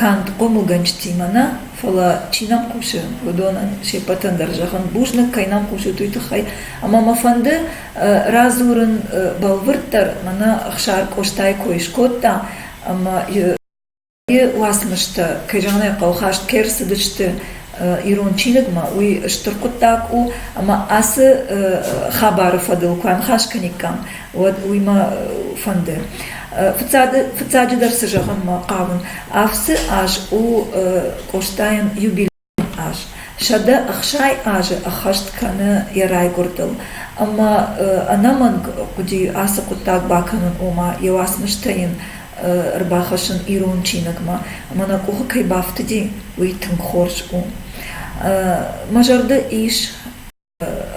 канд хъомылгӕнджытимӕ нӕ, фӕлӕ чи нӕм хъусы, уыдонӕн сеппӕтӕн дӕр зӕгъын, бузныг кӕй нӕм хъусут, уый тыххӕй. Ӕмӕ мӕ фӕнды радзурын бӕлвырддӕр, мӕнӕ Ӕхсар Къостайы кой скодта ӕмӕ уацмыстӕ, кӕй зӕгъын ӕй хъӕуы, хаст кӕй ӕрцыдысты ирон чиныгмӕ, уый стыр хъуыддаг у, ӕмӕ ацы хабары фӕдыл куы аныхас кӕниккам, уӕд уый мӕ фӕнды. Фыццаджыдӕр цы зӕгъынмӕ хъавын, ацы аз у Къостайӕн юбилей аз. Сӕдӕ ӕхсай азы ӕххӕст кӕны йӕ райгуырдыл. Ӕмӕ ӕнӕмӕнг хъуыди ацы хъуыддаг бакӕнын, ома йӕ уацмыстӕ йын ӕрбахӕссын ирон чиныгмӕ. Ӕмӕ нӕ къухы кӕй бафтыди, уый тынг хорз у. Мӕ зӕрды ис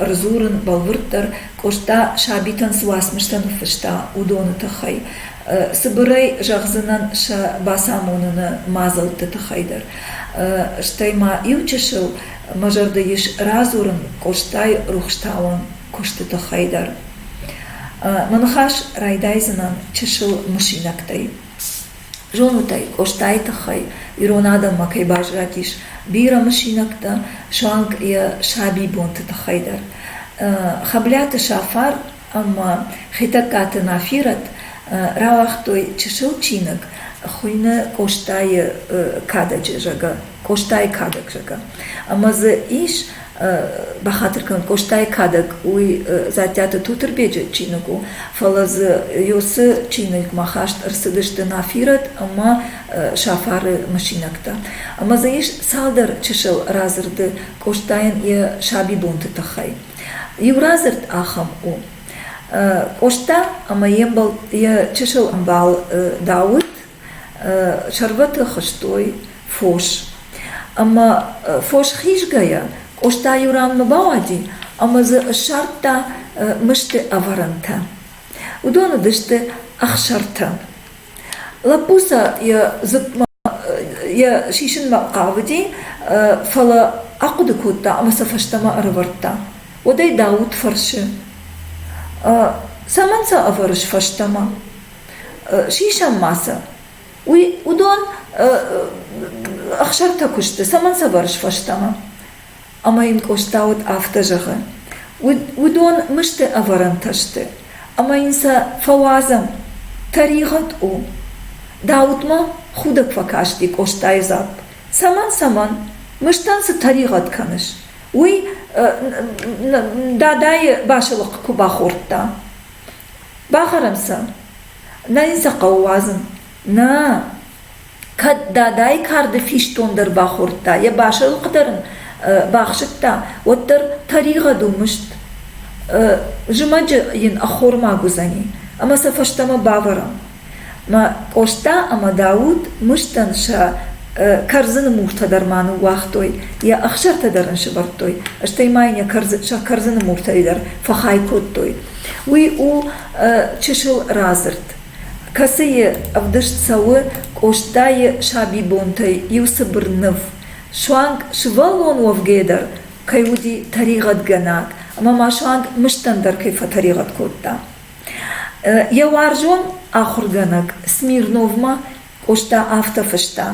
ӕрдзурын бӕлвырддӕр Къоста сабитӕн цы уацмыстӕ ныффыста, уыдоны тыххӕй. Цыбырӕй зӕгъдзынӕн сӕ бацамоныны мадзӕлтты тыххӕй дӕр. Стӕй ма иучысыл мӕ зӕрды ис радзурын Къостайы рухстауӕн куысты тыххӕй дӕр. Мӕ ныхас райдайдзынӕн чысыл мысинӕгтӕй. Зонут ӕй, Къостайы тыххӕй ирон адӕммӕ кӕй баззадис бирӕ мысинӕгтӕ, суанг йӕ сабибонты тыххӕй дӕр. Хӕблиаты Сафар ӕмӕ Хетӕгкаты Нафирӕт рауагътой чысыл чиныг, хуыйны Къостайы кадӕджы зӕгъӕн, Къостайы кадӕг зӕгъӕн. Ӕмӕ дзы ис Бахатыр кӕн, Къостайы кадӕг уый Дзаттиаты Тутырбеджы чиныг у, фӕлӕ дзы Ёсы чиныгмӕ хаст ӕрцыдысты Нафирӕт ӕмӕ Сафары мысинӕгтӕ. Ӕмӕ дзы ис цалдӕр чысыл радзырды Къостайӕн йӕ сабибонты тыххӕй. Иу радзырд ахӕм у. Къоста ӕмӕ йе чысыл ӕмбал Дауыт сӕрбӕты хызтой фос. Ӕмӕ фос хизгӕйӕ Къоста иу ранмӕ бауади ӕмӕ дзы ссардта мысты ӕвӕрӕнтӕ. Уыдон уыдысты ӕхсӕртӕ. Лӕппу сӕ йӕ дзыпмӕ йӕ сисынмӕ хъавыди, фӕлӕ ахъуыды кодта ӕмӕ сӕ фӕстӕмӕ ӕрӕвӕрдта. Уӕдӕй Дауыт фӕрсы. Цӕмӕн сӕ ӕвӕрыс фӕстӕмӕ? Сисӕм ма сӕ. Уый уыдон ӕхсӕртӕ куы сты, цӕмӕн сӕ вӕрыс фӕстӕмӕ? Ӕмӕ йын Къоста уӕд афтӕ зӕгъы: Уыдон мысты ӕвӕрӕнтӕ сты, ӕмӕ йын сӕ фӕуадзӕм, тӕригъӕд у. Дауытмӕ худӕг фӕкасти Къостайы дзӕбб: Цӕмӕн, цӕмӕн? Мыстӕн цы тӕригъӕд кӕныс? Уый дадайы басылыхъ куы бахордта. Бахӕрӕм сӕ. Нӕ йын сӕ хъӕуы уадзын. Нӕ! Кӕд дадайы карды фистон дӕр бахордта, йӕ басырыл хъыдырын бахсыдта, уӕддӕр тӕригъӕд у мыст. Зымӕджы йын ӕххормаг уыдзӕни, ӕмӕ сӕ фӕстӕмӕ бавӕрӕм. Мӕ Къоста ӕмӕ Дауыт мыстӕн сӕ кӕрдзыны муртӕ дӕр ма ныууагътой, йӕ ӕхсӕртӕ дӕр ын сывӕрдтой, стӕй ма йын сӕ кӕрдзыны муртӕй дӕр фӕхай кодтой. Уый у чысыл радзырд, кӕцыйы ӕвдыст цӕуы Къостайы сабибонтӕй иу цыбыр ныв, суанг сывӕллон уӕвгӕ дӕр кӕй уыди тӕригъӕдгӕнаг ӕмӕ ма суанг мыстӕн дӕр кӕй фӕтӕригъӕд кодта. Йӕ уарзон ахуыргӕнӕг Смирновмӕ Къоста афтӕ фыста: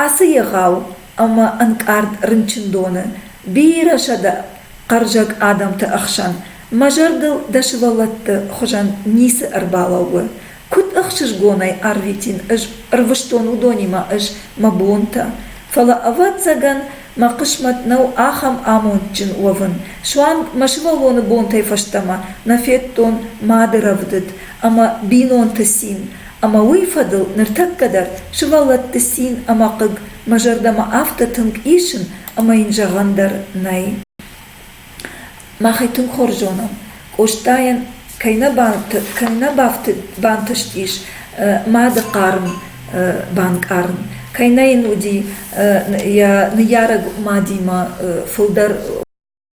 Ацы егъау ӕмӕ ӕнкъард рынчындоны бирӕ сӕдӕ хъӕрзӕг адӕмты ӕхсӕн мӕ зӕрдыл дӕ сывӕллӕтты хуызӕн ницы ӕрбалӕууы. Куыд ӕхсызгонӕй арвитин ӕз ӕрвыстон уыдонимӕ ӕз мӕ бонтӕ, фӕлӕ, ӕвӕццӕгӕн, мӕ хъысмӕт нӕу ахӕм амондджын уӕвын. Суанг мӕ сывӕллоны бонтӕй фӕстӕмӕ нӕ федтон мады рӕвдыд ӕмӕ бинонты цин, ӕмӕ уый фӕдыл ныртӕккӕ дӕр сывӕллӕтты цин ӕмӕ хъыг мӕ зӕрдӕмӕ афтӕ тынг исын, ӕмӕ йын зӕгъӕн дӕр нӕй. Мӕхи тынг хорз зонын, Къостайӕн кӕй нӕ бантыстис мады хъарм банкъарын, кӕй нӕ йын уыди йӕ ныййарӕг мадимӕ фылдӕр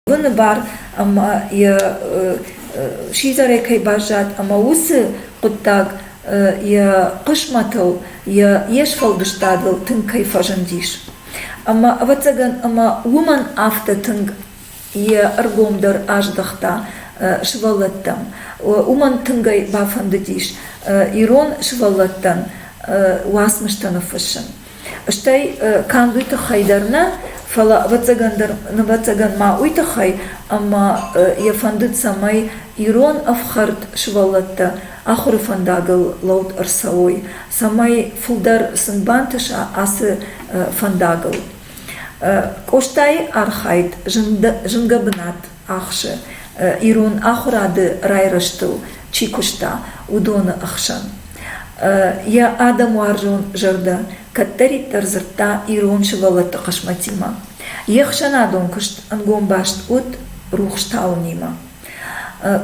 уӕвыны бар ӕмӕ йӕ сидзӕрӕй кӕй баззад ӕмӕ уыцы хъуыддаг йӕ хъысмӕтыл, йе сфӕлдыстадыл тынг кӕй фӕзындис. Ӕмӕ, ӕвӕццӕгӕн, ӕмӕ уымӕн афтӕ тынг йӕ ӕргомдӕр аздӕхта сывӕллӕттӕм. Уымӕн тынгӕй бафӕндыдис ирон сывӕллӕттӕн уацмыстӕ ныффыссын. Стӕй канд уый тыххӕй дӕр нӕ, фӕлӕ, ӕвӕццӕгӕн дӕр, ӕвӕццӕгӕн ма уый тыххӕй, ӕмӕ йӕ фӕндыд, цӕмӕй ирон ӕфхӕрд сывӕллӕттӕ ахуыры фӕндагыл лӕуд ӕрцӕуой, цӕмӕй фылдӕр сын бантыса ацы фӕндагыл. Къостайы архайд зынгӕ бынат ахсы, ирон ахуырады райрӕзтыл чи куыста, уыдоны ӕхсӕн. Йӕ адӕмуарзон зӕрдӕ кӕддӕриддӕр дзырдта ирон сывӕллӕтты хъысмӕтимӕ. Йе хсӕнадон куыст ӕнгом баст уыд рухс тауынимӕ.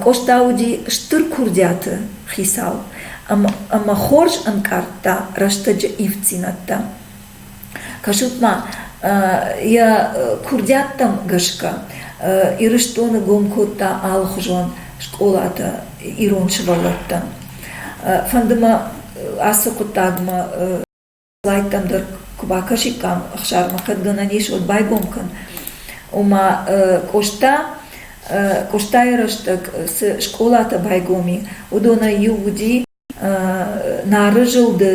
Къоста уыди стыр курдиаты хицау ӕмӕ хорз ӕнкъардта рӕстӕджы ивддзинӕдтӕ. Кӕсут-ма, йӕ курдиӕттӕм гӕсгӕ Ирыстоны гом кодта алыхуызон скъолаты ирон сывӕллӕттӕн. Фӕнды мӕ ацы хъуыддагмӕ лӕйттӕм дӕр куы бакӕсиккам ӕхсармӕ, кӕд гӕнӕн ис, уӕд байгом кӕн. Ома Къоста, Къостайы рӕстӕг цы скъолатӕ байгом и, уыдонӕй иу уыди Нары зылды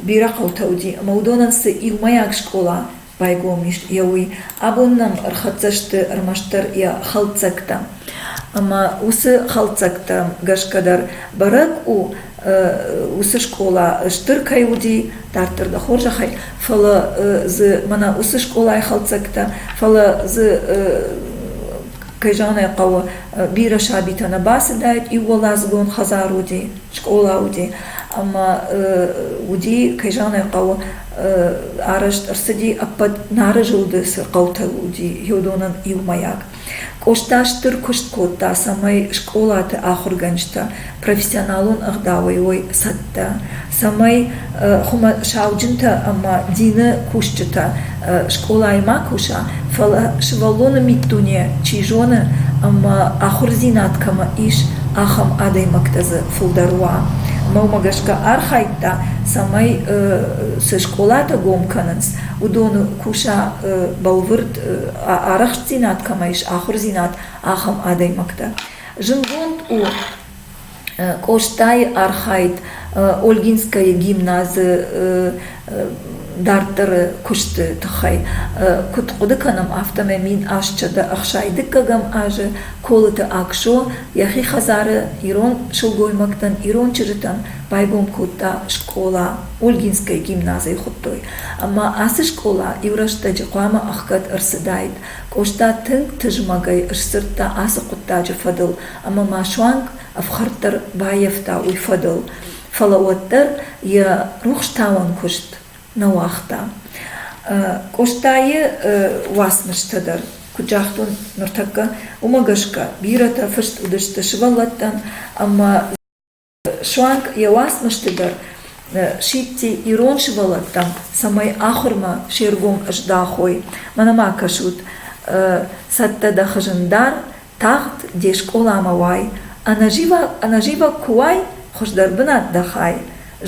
бирӕ хъӕутӕ уыди, ӕмӕ уыдонӕн цы иумӕйаг скъола байгом ис йӕ уый. Абон нӕм ӕрхӕццӕ сты ӕрмӕстдӕр йӕ хӕлддзӕгтӕ. Ӕмӕ уыцы хӕлддзӕгтӕ гӕсгӕ дӕр бӕрӕг у, уыцы скъола стыр кӕй уыди, дарддӕр дӕ хорзӕхӕй, фӕлӕ дзы мӕнӕ уыцы скъолайы хӕлддзӕгтӕ, фӕлӕ дзы кӕй зӕгъын ӕй хъӕуы, бирӕ сабитӕ нӕ бацыдаид, иууӕладзыгон хӕдзар уыди. скъола уыди ӕмӕ уыди, кӕй зӕгъын ӕй хъӕуы, арӕзт ӕрцыди ӕппӕт Нары зылды цы хъӕутӕ уыди, Йодонӕн иумӕйаг. Къоста стыр куыст кодта, цӕмӕй скъолаты ахуыргӕнджытӕ профессионалон ӕгъдауӕй уой цӕттӕ, цӕмӕй хуымӕ сауджынтӕ ӕмӕ дины кусджытӕ скъолайы ма куса, фӕлӕ сывӕллоны миддуне, чи зоны, ӕмӕ ахуырдзинад кӕмӕ ис, ахӕм адӕймӕгтӕ дзы фылдӕр уа. Ӕмӕ уымӕ гӕсгӕ архайдта, цӕмӕй цы скъолатӕ гом кӕнынц, уыдоны куса бӕлвырд арӕхстдзинад кӕмӕ ис, ахуырдзинад ахӕм адӕймӕгтӕ. Зындгонд у Къостайы архайд Ольгинскӕйы гимназы дарддӕры куысты тыххӕй. Куыд хъуыды кӕнӕм, афтӕмӕй мин астсӕдӕ ӕхсай дыккӕгӕм азы Колыты Аксо йӕхи хӕдзары ирон сылгоймӕгтӕн, ирон чызджытӕн байгом кодта скъола. Ольгинскӕйы гимназӕй хуыдтой. Ӕмӕ ацы скъола иу рӕстӕджы хъуамӕ ӕхгӕд ӕрцыдаид. Къоста тынг тызмӕгӕй сдзырдта ацы хъуыддаджы фӕдыл ӕмӕ ма суанг ӕфхӕрд дӕр баййӕфта уый фӕдыл, фӕлӕ уӕддӕр йӕ рухс тауӕн куыст нӕ уагъта. Къостайы уацмыстӕ дӕр куыд загътон ныртӕккӕ, уымӕ гӕсгӕ бирӕтӕ фыст уыдысты сывӕллӕттӕн ӕмӕ Суанг йӕ уацмысты дӕр сидти ирон сывӕллӕттӕм, цӕмӕй ахуырмӕ се ргом здахой. Мӕнӕ ма кӕсут: цӕттӕ дӕ хызын дар, тагъд де скъоламӕ уай. Ӕнӕзивӕг, ӕнӕзивӕг куы уай, хуыздӕр бынат дӕ хай.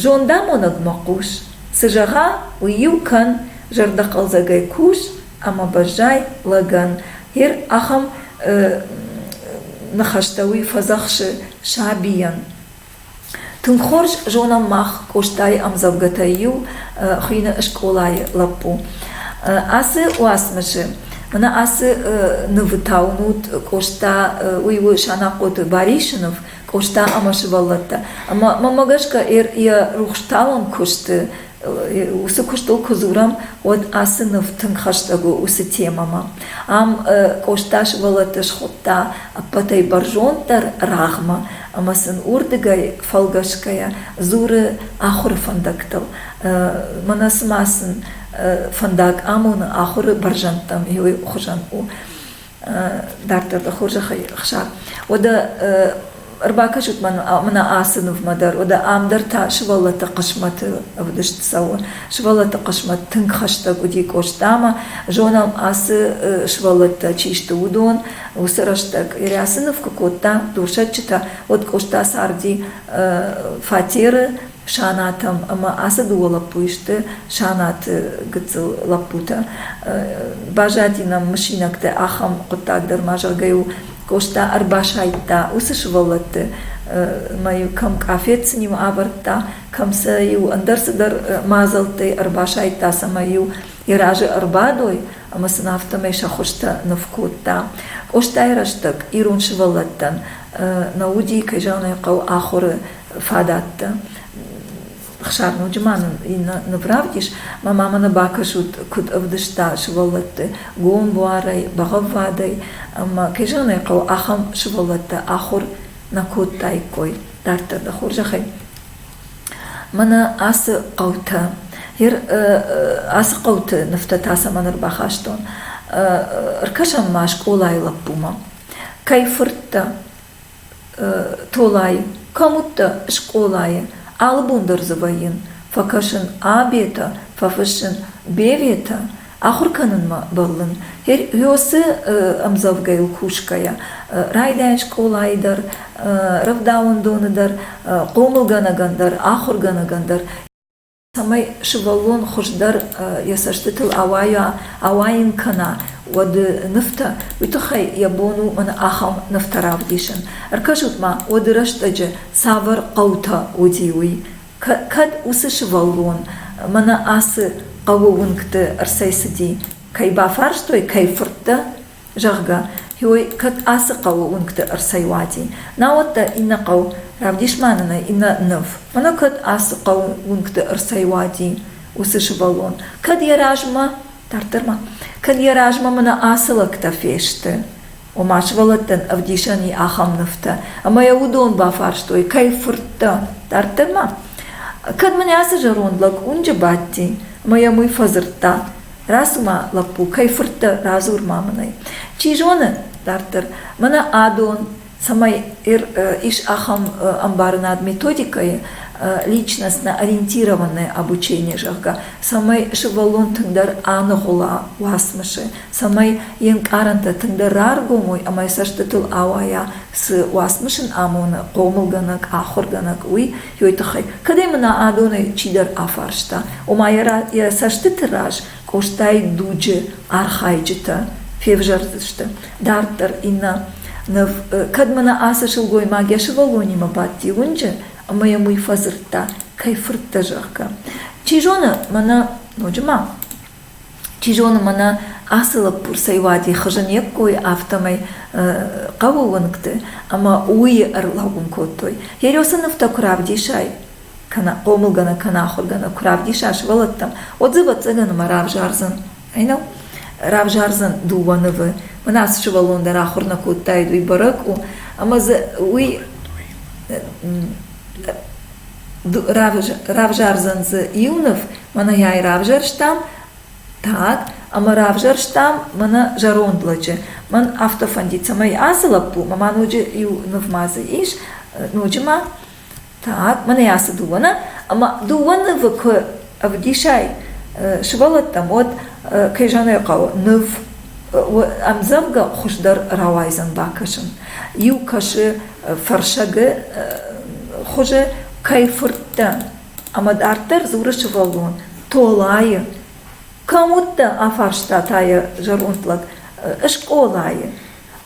Зондамонӕгмӕ хъус. Цы зӕгъа, уый-иу кӕн, зӕрдӕхъӕлдзӕгӕй кус, ӕмӕ бӕззай лӕгӕн. Гъер ахӕм ныхӕстӕ уый фӕдзӕхсы сабийӕн. Тынг хорз зонӕм мах Къостайы ӕмдзӕвгӕтӕй иу хуыйны «Скъолайы лӕппу». Ацы уацмысы мӕнӕ ацы нывы та уынут Къоста, уый у Санахъоты Барисы ныв Къоста ӕмӕ сывӕллӕттӕ. Ӕмӕ мӕнмӕ гӕсгӕ йӕ рухс талынг куысты уыцы куыстыл куы дзурӕм, уӕд ацы ныв тынг хӕстӕг у уыцы темӕмӕ. Ам Къоста сывӕллӕтты схуыдта ӕппӕтӕй бӕрзонддӕр рӕгъмӕ, ӕмӕ сын уырдыгӕй фӕлгӕсгӕйӕ дзуры ахуыры фӕндӕгтыл. Мӕнӕ цыма сын фӕндаг амоны ахуыры бӕрзӕндтӕм иу хуызӕн у. дарддӕр хорзӕхӕй ӕхса. Уӕдӕ ӕрбакӕсут мӕнӕ ацы нывмӕ дӕр, уӕдӕ ам дӕр та сывӕллӕтты хъысмӕты ӕвдыст цӕуы. Сывӕллӕтты хъысмӕт тынг хӕстӕг уыди Къостамӕ. Зонӕм, ацы сывӕллӕттӕ чи сты, уыдон. Уыцы рӕстӕг Ирӕсы ныв куы кодта дурсӕтджытӕ, уӕд Къоста царди фатеры Санатӕм ӕмӕ ацы дыууӕ лӕппуйы сты Санаты гыццыл лӕппутӕ. Базади нӕм мысинӕгты ахӕм хъуыддаг дӕр ма, зӕгъгӕ, у Къоста ӕрбасайдта уыцы сывӕллӕтты ӕмӕ-иу кӕм къафет сын-иу авӕрдта, кӕм сӕ-иу ӕндӕр цыдӕр мадзӕлттӕй ӕрбасайдта, цӕмӕй-иу йӕ разы ӕрбадой ӕмӕ сын афтӕмӕй сӕ хуызтӕ ныв кодта. Къостайы рӕстӕг ирон сывӕллӕттӕн нӕ уыди, кӕй зӕгъын ӕй хъӕуы, ахуыры фадӕттӕ. Хсар ноджы ма нын ныв ис, мамӕ мӕнӕ бакӕсут, куыд ӕвдыста сывӕллӕтты гом буарӕй, бӕгъӕввадӕй, ӕмӕ, кӕй зӕгъын ӕй хъӕуы, ахӕм сывӕллӕттӕ ахуыр нӕ кодтаиккой дарддӕр дӕ хорзӕхӕй. Мӕнӕ ацы хъӕутӕ, ацы хъӕуты нывтӕ та цӕмӕн ӕрбахастон? Ӕркӕсӕм ма скъолайы лӕппумӕ. Кӕй фырттӕ Толайы, кӕм уыдтӕ, скъолайы, алы бон дӕр дзы вӕййын, фӕкӕсын Абетӕ, фӕфыссын Беветӕ, ахуыр кӕнынмӕ бӕллын. Весы ӕмдзӕвгӕйыл кусгӕйӕ, райдайын скъолайы дӕр, рӕвдауӕндоны дӕр, хъомылгӕнӕгӕн дӕр, ахуыргӕнӕгӕн дӕр. Цӕмӕй сывӕллон хуыздӕр йӕ цӕстытыл ауайа, ауайын кӕна уӕды нывтӕ, уый тыххӕй йӕ бон у мӕнӕ ахӕм нывтӕ равдисын. Ӕркӕсут-ма, уӕды рӕстӕджы цавӕр хъӕутӕ уыди, уый. Кӕд уыцы сывӕллон мӕнӕ ацы хъӕуы уынгты ӕрцӕйцыди, кӕй бафарстой, кӕй фырттӕ, зӕгъгӕ, Хьой кӕд ацы хъӕуы уынгты ӕрцӕйуати, науӕд дӕ иннӕ хъӕу равдис ма нын иннӕ ныв, мӕнӕ кӕд ацы хъӕуы уынгты ӕрцӕйуати, уыцы сывӕллон, кӕд йӕ размӕ, дарддӕр ма, кӕд йӕ размӕ мӕнӕ ацы лӕгтӕ фесты. Ома сывӕллӕттӕн ӕвдисӕн и ахӕм нывтӕ, ӕмӕ йӕ уыдон бафарстой, кӕй фырттӕ, дарддӕр ма, кӕд мын ацы зӕронд лӕг уынджы бадти, ӕмӕ йӕм уый фӕдзырдта, Рацу-ма, лӕппу, кӕй фырт дӕ, радзур ма мын ӕй. Чи зоны, дарддӕр, мӕнӕ адон, цӕмӕй ис ахӕм ӕмбарынад методикӕйы, личностно ориентированное обучение, зӕгъгӕ, цӕмӕй сывӕллон тынгдӕр аныгъуыла уацмысы, цӕмӕй йе нкъарӕнтӕ тынгдӕр раргомой ӕмӕ йӕ цӕстытыл ауайа, цы уацмыс ын амоны хъомылгӕнӕг, ахуыргӕнӕг, уый уый тыххӕй. Кӕдӕй мын адонӕй чидӕр афарста, ома йӕ цӕстыты раз Къостайы дуджы архайджытӕ февзӕрдзысты. Дарддӕр иннӕ ныв, кӕд мӕнӕ ацы сылгоймаг йӕ сывӕллонимӕ бадти уынджы ӕмӕ йӕм уый фӕдзырдта, кӕй фырттӕ, зӕгъгӕ. Чи зоны, мӕнӕ ноджы ма Чи зоны мӕнӕ ацы лӕппу цӕй уади хызын йе ккой, афтӕмӕй хъӕуы уынгты, ӕмӕ уый ӕрлӕууын кодтой. Йӕ рёсы нывтӕ куы равдисай, кӕнӕ хъомылгӕнӕг кӕнӕ ахуыргӕнӕг куы равдиса сывӕллӕттӕм, уӕд дзы ӕвӕццӕгӕн ӕмӕ равзардзӕн. Ай-нӕу? Равзардзӕн дыууӕ нывы. Мӕнӕ ацы сывӕллон дӕр ахуыр нӕ кодтаид, уый бӕрӕг у, ӕмӕ дзы уый Равзардзӕн дзы иу ныв, мӕнӕй ӕй равзӕрстам так ӕмӕ равзӕрстам мӕнӕ зӕронд лӕджы. Мӕн афтӕ фӕнди, цӕмӕй ацы лӕппу, мӕ ма ноджы иу ныв ма дзы ис, ноджы ма, так, мӕнӕй ацы дыууӕ нӕ, ӕмӕ дыууӕ нывы куы Ӕвдисай, сывӕллӕттӕм уӕд, кӕй зӕгъын ӕй хъӕуы, ныв, ӕмдзӕвгӕ хуыздӕр рауайдзӕн бакӕсын. Иу кӕсы фӕрсӕгы хуызы кӕй фырттӕ, ӕмӕ дарддӕр дзуры сывӕллон Толайы. Кӕм уыдтӕ? афарста та йӕ зӕронд лӕг. Скъолайы.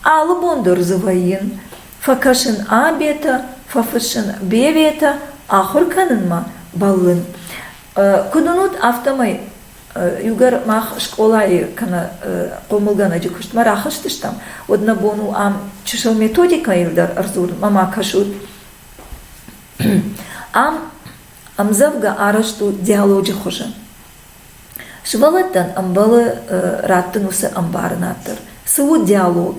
Алы бон дӕр дзы вӕййын. фӕкӕсын абетӕ, фӕфыссын беветӕ, ахуыр кӕнынмӕ бӕллын. Куыд уынут, афтӕмӕй иугӕр мах скъолайы кӕнӕ хъомылгӕнӕджы куыстмӕ рахызтыстӕм, уӕд нӕ бон у ам чысыл методикӕйыл дӕр ӕрдзурын, ма ма кӕсут. Ам ӕмдзӕвгӕ арӕзт у диалоджы хуызы. Сывӕллӕттӕн ӕмбӕлы радтын уыцы ӕмбарынад дӕр. Цы у диалог?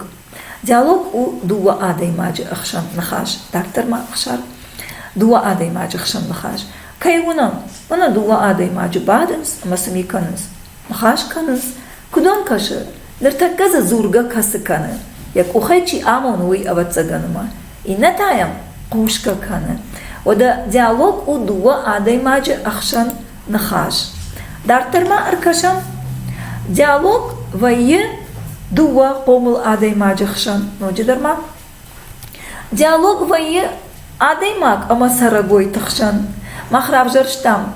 Диалог у дыууӕ адӕймаджы ӕхсӕн ныхас, дарддӕр ма ӕхсар. Дыууӕ адӕймаджы хсӕн ныхас. Кӕй уынӕм? Уынӕм, дыууӕ адӕймаджы бадынц ӕмӕ цы ми кӕнынц? Ныхас кӕнынц. Куыд уӕм кӕсы? Ныртӕккӕ дзы дзургӕ кӕцы кӕны? Йӕ къухӕй чи амоны, уый, ӕвӕццӕгӕн, уымӕ. Иннӕ та йӕм хъусгӕ кӕны. Уӕдӕ диалог у дыууӕ адӕймаджы ӕхсӕн ныхас. Дарддӕр ма ӕркӕсӕм, диалог вӕййы дыууӕ хъомыл адӕймаджы хсӕн. Ноджыдӕр ма диалог вӕййы адӕймаг ӕмӕ цӕрӕгойты хсӕн. Мах равзӕрстам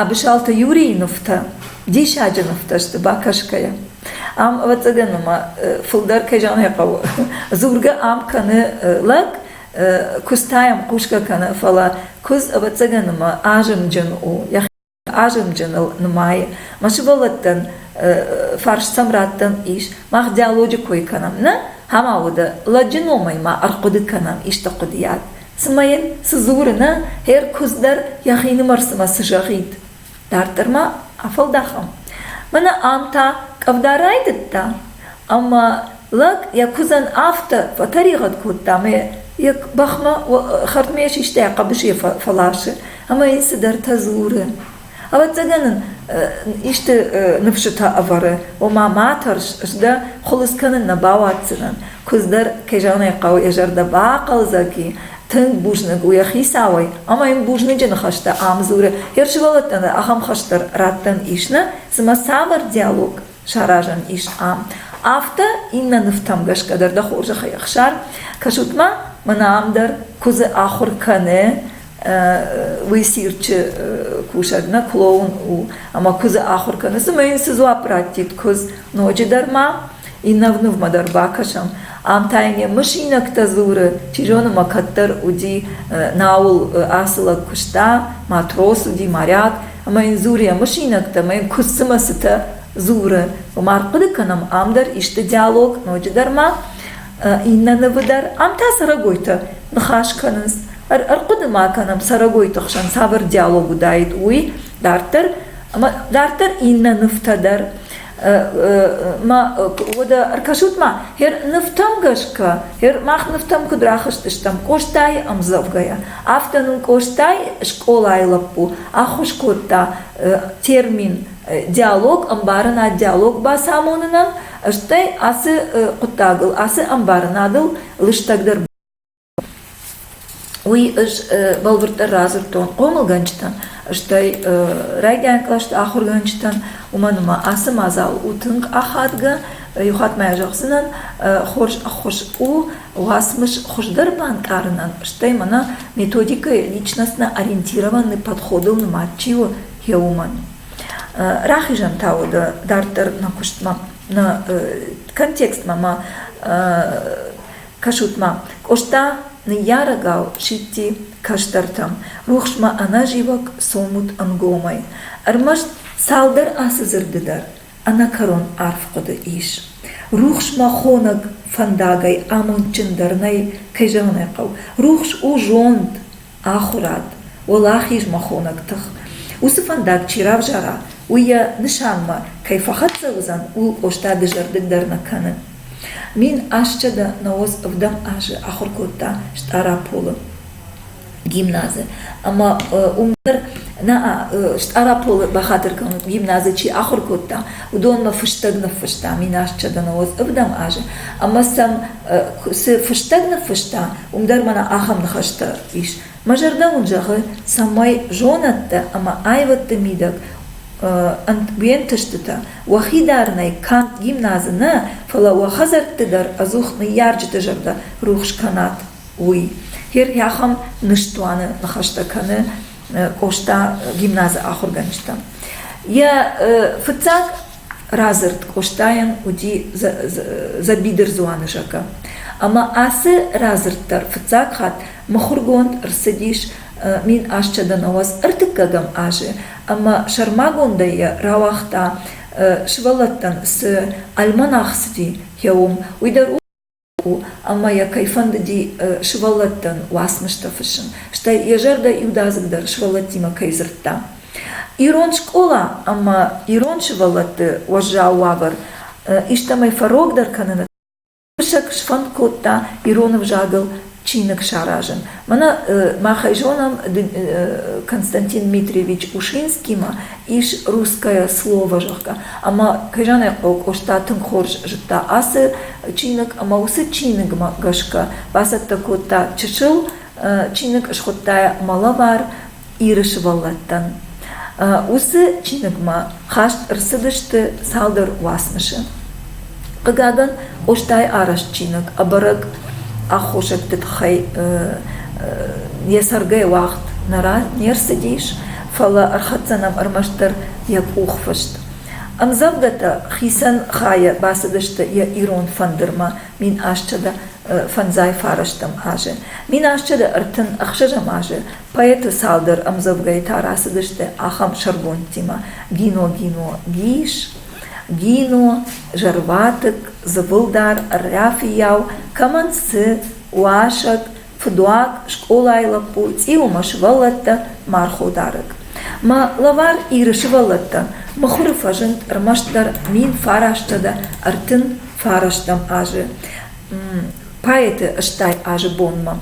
Абысалты Юрийы нывтӕ. Диссаджы нывтӕ сты бакӕсгӕйӕ. Ам, ӕвӕццӕгӕн, ӕмӕ фылдӕр кӕй зӕгъын хъӕуы, дзургӕ ам кӕны лӕг, куыста йӕм хъусгӕ кӕны, фӕлӕ куыдз, ӕвӕццӕгӕн, ӕмӕ азымджын у, йӕхи азымджыныл нымайы. Мӕ сывӕллӕттӕн фарст сӕм раттӕн ис, мах диалоджы кой кӕнӕм, нӕ? Ама уыды лӕджы номӕй ма ӕрхъуыды кӕнӕм исты хъуыдыйад. Цымӕ йын цы дзуры, нӕ? Гъер куыдз дӕр йӕхинымӕр цымӕ цы зӕгъид? Дарддӕр ма афӕлдахӕм. Мӕнӕ ам та къӕвда райдыдта, ӕмӕ лӕг йӕ куыдзӕн афтӕ фӕтӕригъӕд кодта, ӕмӕ йӕ бӕхмӕ хӕрдмӕ йӕ систӕй хъӕбысӕй фӕласы, ӕмӕ йын цыдӕртӕ дзуры. Ӕвӕццӕгӕн ын исты ныфсытӕ ӕвӕры, ома ма тӕрс, ӕз дӕ хуылыдз кӕнын нӕ бауадздзынӕн. Куыдз дӕр, кӕй зӕгъын ӕй хъӕуы, йӕ зӕрдӕ бахъӕлдзӕг и, Тынг бузныг уӕ хицауӕй, ӕмӕ йын бузныджы ныхӕстӕ ам дзуры. Йе рсывӕллӕттӕн ахӕм хӕстӕр раттӕн ис нӕ, цымӕ цавӕр диалог саразӕн ис ам? Афтӕ иннӕ нывтӕм гӕсгӕ дӕр дӕ хорзӕхӕй ӕхсар, кӕсут-ма, мӕнӕ ам дӕр куыдзы ахуыр кӕны, уый цирчы кусӕг нӕ клоун у, ӕмӕ куыдзы ахуыр кӕны, цымӕ йын цы дзуапп раттид куыдз ноджыдӕр ма? иннӕ нывмӕ дӕр бакӕсӕм. Ам та йын йӕ мысинӕгтӕ дзуры, чи зоны мӕ кӕддӕр уыди, науыл ацы лӕг куыста, матрос уыди, моряк, ӕмӕ йын дзуры йӕ мысинӕгтӕ, ӕмӕ йын куыд цымӕ цытӕ дзуры. Ма хъуыды кӕнӕм, ам дӕр исты диалог ноджыдӕр ма иннӕ нывы дӕр. Ам та цӕрӕгойтӕ ныхас кӕнынц. Ӕрхъуыды ма кӕнӕм, цӕрӕгойты хсӕн цавӕр диалог уыдаид, уый дарддӕр ӕмӕ дарддӕр иннӕ нывтӕ дӕр. ма уӕдӕ ӕркӕсут-ма, хер нывтӕм гӕсгӕ, хер мах нывтӕм куыд рахызтыстӕм Къостайы ӕмдзӕвгӕйӕ, афтӕ нын Къостай скъолайы лӕппу ӕххуыс кодта термин диалог ӕмбарынад диалог бацамонынӕн, стӕй ацы хъуыддагыл, ацы ӕмбарынадыл лыстӕгдӕр Уый ӕз бӕлвырддӕр радзырдтон хъомылгӕнджытӕн, стӕй райдиан кълӕсты ахуыргӕнджытӕн, уымӕн ӕмӕ ацы мадзал у тынг ахадгӕ. Иу хатт ма йӕ зӕгъдзынӕн, хорз ӕххуыс у уацмыс хуыздӕр банкъарынӕн, стӕй мӕнӕ методикӕйы личностно ориентированный подходыл нымад чи у Хеуман. Рахизӕм та уӕдӕ дарддӕр нӕ куыстмӕ, нӕ контекстмӕ мӕ Кӕсут-ма, Къоста ныййарӕгау сидти кӕстӕртӕм, рухсмӕ ӕнӕзивӕг цомут ӕнгомӕй. Ӕрмӕст цалдӕр ацы дзырды дӕр ӕнӕкӕрон арф хъуыды ис. Рухсмӕ хонӕг фӕндагӕй амондджындӕр нӕй, кӕй зӕгъын ӕй хъӕуы. Рухс у зонд, Ахуырад, уӕлахизмӕ хонӕг тых, уыцы фӕндаг чи равзара, уый йӕ нысанмӕ кӕй фӕхӕццӕ уыдзӕн, ууыл Къоста дызӕрдыг дӕр нӕ кӕны. Мин асчъӕдӕ наоз ӕвдӕм азы ахуыр кодта Стъараполы гимназы. Ӕмӕ уым дӕр нӕ Стъараполы бахатыргӕнӕг гимназы чи ахуыр кодта, уыдонмӕ фыстӕг ныффыста мин асчъӕдӕ наоз ӕвдӕм азы, ӕмӕ сӕм цы фыстӕг ныффыста, уым дӕр мӕнӕ ахӕм ныхӕстӕ ис. Мӕ зӕрдӕ уын зӕгъы, цӕмӕй зонӕдтӕ ӕмӕ аивӕдты мидӕг уе нтыстытӕ уӕхи дӕр нӕ канд гимназы нӕ, фӕлӕ уӕ хӕдзӕртты дӕр ӕдзух ныййарджыты зӕрдӕ рухс кӕнат, уый. Хер ахӕм ныстуаны ныхӕстӕ кӕны Къоста гимназы ахуыргӕнджытӕм. Йӕ фыццаг Радзырд Къостайӕн уыди дзӕбидырдзуаны зӕгъгӕ, ӕмӕ ацы радзырд дӕр фыццаг хатт мыхуыргонд ӕрцыдис мин асчъадӕнауӕдз ӕртыккӕгӕм азы ӕмӕ сӕрмагондӕй йӕ рауагъта, сывӕллӕттӕн цы альманах цыди, йӕ уым, уый дӕр ӕмӕ йӕ кӕй фӕндыди сывӕллӕттӕн уацмыстӕ фыссын, стӕй йӕ зӕрдӕ иудадзыгдӕр сывӕллӕттимӕ кӕй дзырдта. Ирон скъола ӕмӕ ирон сывӕллӕтты уӕззау уавӕр истӕмӕй фӕрогдӕр кӕныны тырысӕг сфӕнд кодта ирон ӕвзагыл чиныг саразын. Мӕнӕ махӕй зонӕм Константин Дмитриевич Ушинскимӕ ис русское слово, зӕгъгӕ. Ӕмӕ Кайранӕй хъӕуы Къоста тынг хорз зыдта ацы чиныг, ӕмӕ уыцы чиныгмӕ гӕсгӕ бацӕттӕ кодта чысыл чиныг, схуыдта мӕ лӕвар, Иры сывӕллӕттӕн. Уыцы чиныгмӕ хаст ӕрцыдысты цалдӕр уацмысы. Хъыгагӕн, Къостайы арӕзт чиныг ӕбӕрӕг аххосӕгты тыххӕй йӕ цӕргӕ уагъд нӕ рцыдис, фӕлӕ ӕрхӕццӕ нӕм ӕрмӕстдӕр йӕ къухфыст. Ӕмдзӕвгӕтӕ хицӕн хайӕ бацыдысты йӕ ирон фӕндырмӕ мин азчъыды фӕндзай фарӕстӕм азы. Мин азчъыды ӕртын ӕхсӕзӕм азы Поэты цалдӕр ӕмдзӕвгӕйы та рацыдысты ахӕм сӕрбонтимӕ: «Гино-гино гис», «Гино», «Зӕрватыкк», «Дзывылдар», «Рӕфийау», «Кӕмӕн цы», «Уасӕг», «Фыдуаг», «Скъолайы лӕппу», «Цъиумӕ сывӕллӕттӕ», «Марходарыг». Мӕ лӕвар Иры сывӕллӕттӕн мыхуыры фӕзынд ӕрмӕстдӕр мин фарастсӕдӕ ӕртын фарӕстӕм азы поэты ыстай азы бонмӕ.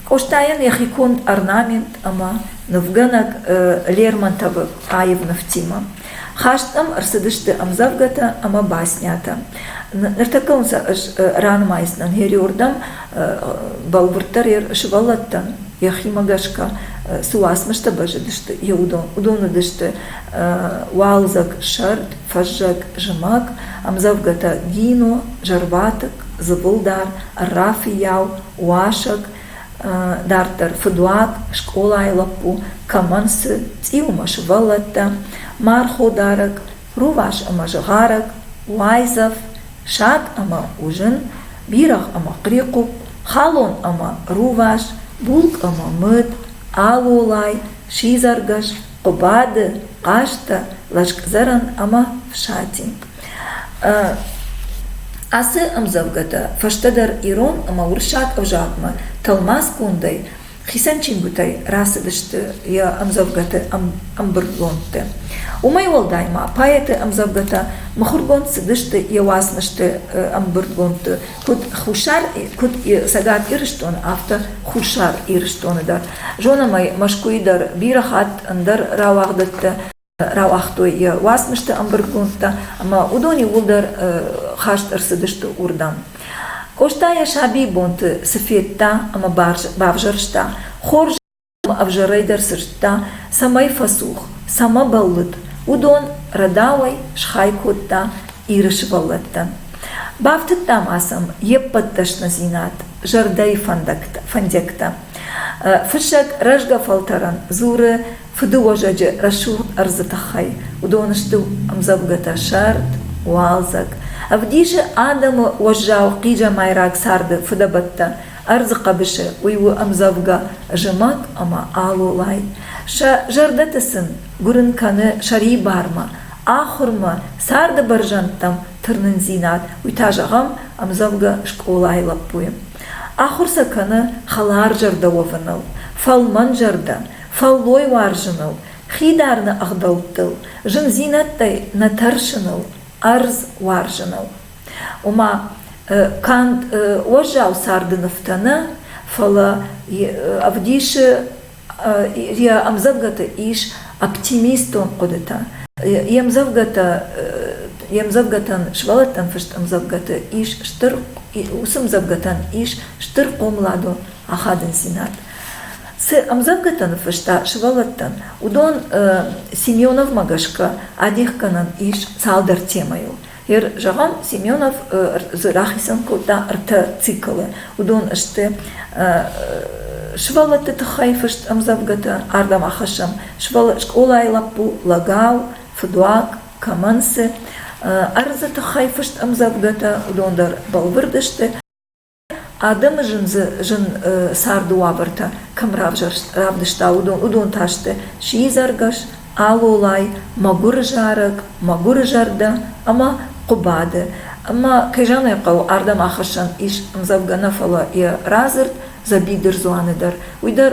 Къостайӕн йӕхи конд орнамент ӕмӕ нывгӕнӕг Лермонтовы аив нывтимӕ. Хаст ӕм ӕрцыдысты ӕмдзӕвгӕтӕ ӕмӕ баснятӕ. Ныртӕккӕ уын сӕ ӕз ранымайдзынӕн йӕрирдӕм, бӕлвырддӕр йӕ сывӕллӕттӕн йӕхимӕ гӕсгӕ цы уацмыстӕ бӕззыдысты, уыдон уыдысты уалдзӕг сӕрд, фӕззӕг зымӕг, ӕмдзӕвгӕтӕ Гино, Зӕрватыкк, Дзывылдар, Ӕрра фыййау, Уасӕг дарддӕр фыдуаг скъолайы лӕппу кӕмӕн цы, цъиумӕ сывӕллӕттӕ, марходарӕг, рувас ӕмӕ зыгъарӕг, уайдзӕф, сад ӕмӕ уызын, бирӕгъ ӕмӕ хърихъупп, халон ӕмӕ рувас, булкъ ӕмӕ мыд, алолай, сидзӕргӕс, хъуыбады, хъазтӕ, лӕскъдзӕрӕн ӕмӕ фсати. Ацы ӕмдзӕвгӕтӕ фӕстӕдӕр ирон ӕмӕ уырыссаг ӕвзагмӕ тӕлмацгондӕй, хицӕн чингуытӕй рацыдысты йӕ ӕмдзӕвгӕты ӕмбырдгондтӕ. Уымӕй уӕлдай ма поэты ӕмдзӕвгӕтӕ мыхуыргонд цыдысты йӕ уацмысты ӕмбырдгондты, куыд Хуссар, куыд Цӕгат Ирыстоны, афтӕ Хуссар Ирыстоны дӕр. Зонӕм ӕй, Мӕскуыйы дӕр бирӕ хатт ӕндӕр рауагъдӕдтӕ рауагътой йӕ уацмысты ӕмбырдгондтӕ ӕмӕ уыдон иууылдӕр хаст ӕрцыдысты уырдӕм. Къоста йӕ сабийы бонты цы федта ӕмӕ бавзӕрста, хорз ӕвзӕрӕй дӕр сырдта, цӕмӕй фӕцух, цӕмӕ бӕллыд, уыдон рӕдауӕй схай кодта Иры сывӕллӕттӕн. Бафтыдта ма сӕм йе ппӕт дӕсныдзинад, зӕрдӕйы фӕндӕгтӕ. Фыссӕг рӕзгӕ фӕлтӕрӕн дзуры Фыдыуӕзӕджы рӕсугъд ӕрдзы тыххӕй уыдон сты ӕмдзӕвгӕтӕ сӕрд, уалдзӕг. Ӕвдисы адӕмы уӕззау хъизӕмайраг царды фыдӕбӕттӕ. Ӕрдзы хъӕбысы уый у ӕмдзӕвгӕ Зымӕг ӕмӕ Ало-лай. Сӕ зӕрдӕты сын гуырын кӕны сӕрибармӕ, ахуырмӕ, царды бӕрзӕндтӕм тырнындзинад. Уый та, зӕгъӕм, ӕмдзӕвгӕ Скъолайы лӕппуйы ахуыр сӕ кӕны хӕларзӕрдӕ уӕвыныл, фӕлмӕн зӕрдӕ, фӕллой уарзыныл, хидарыны ӕгъдӕуттыл, зындзинӕдтӕй нӕ тӕрсыныл, ӕрдз уарзыныл. Ома, канд уӕззау царды нывтӕ нӕ, фӕлӕ ӕвдисы йӕ ӕмдзӕвгӕты ис оптимистон хъуыдытӕ. Йе мдзӕвгӕтӕ, йе мдзӕвгӕтӕн, сывӕллӕттӕн фыст ӕмдзӕвгӕты ис стыр, уыцы ӕмдзӕвгӕтӕн ис стыр хъомыладон ахадындзинад. Цы ӕмдзӕвгӕтӕ ныффыста сывӕллӕттӕн, уыдон Семеновмӕ гӕсгӕ адихгӕнӕн ис цалдӕр темӕйыл. Гъер зӕгъӕм, Семенов дзы рахицӕн кодта ӕртӕ циклы. Уыдон сты сывӕллӕтты тыххӕй фыст ӕмдзӕвгӕтӕ, ардӕм ахӕссӕм скъолайы лӕппу, лӕгау, фыдуаг, кӕмӕн цы. Ӕрдзы тыххӕй фыст ӕмдзӕвгӕтӕ уыдон дӕр бӕлвырд сты. Адӕмы зын зын царды уавӕртӕ кӕм равдыста, уыдон та сты сидзӕргӕс, алолай, мӕгуыры зарӕг, мӕгуыры зӕрдӕ ӕмӕ Хъуыбады. Ӕмӕ кӕй зӕгъын ӕй хъӕуы, ардӕм ахӕссӕн ис ӕмдзӕвгӕ нӕ, фӕлӕ йӕ радзырд Дзӕбидыр дзуаны дӕр. Уый дӕр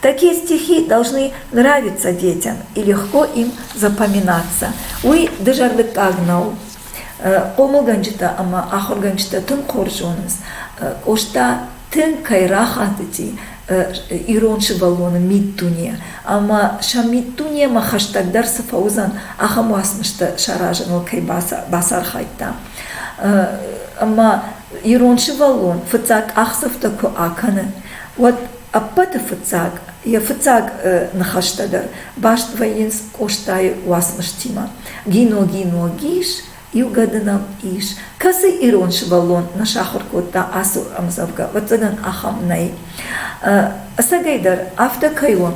такие стихи должны нравиться детям и легко им запоминаться уый дызӕрдыггаг нау хъомылгӕнджытӕ ӕмӕ ахуыргӕнджытӕ тынг хорз зонынц къоста тынг кӕй рахатыди ирон сывӕллоны миддуне ӕмӕ сӕ миддунемӕ хӕстӕгдӕр цы фӕуыдзӕн ахӕм уацмыстӕ саразыныл кӕй бацархайдта ӕмӕ ирон сывӕллон фыццаг къахдзӕфтӕ куы акӕны уӕд Ӕппӕты фыццаг, йӕ фыццаг ныхӕстӕ дӕр баст вӕййынц Къостайы уацмыстимӕ. Гиноги ногис, иу гӕды нӕм ис, кӕцы ирон сывӕллон нӕ сахуыр кодта ацы ӕмдзӕвгӕ, ӕвӕццӕгӕн ахӕм нӕй. Ӕцӕгӕйдӕр, афтӕ кӕй у,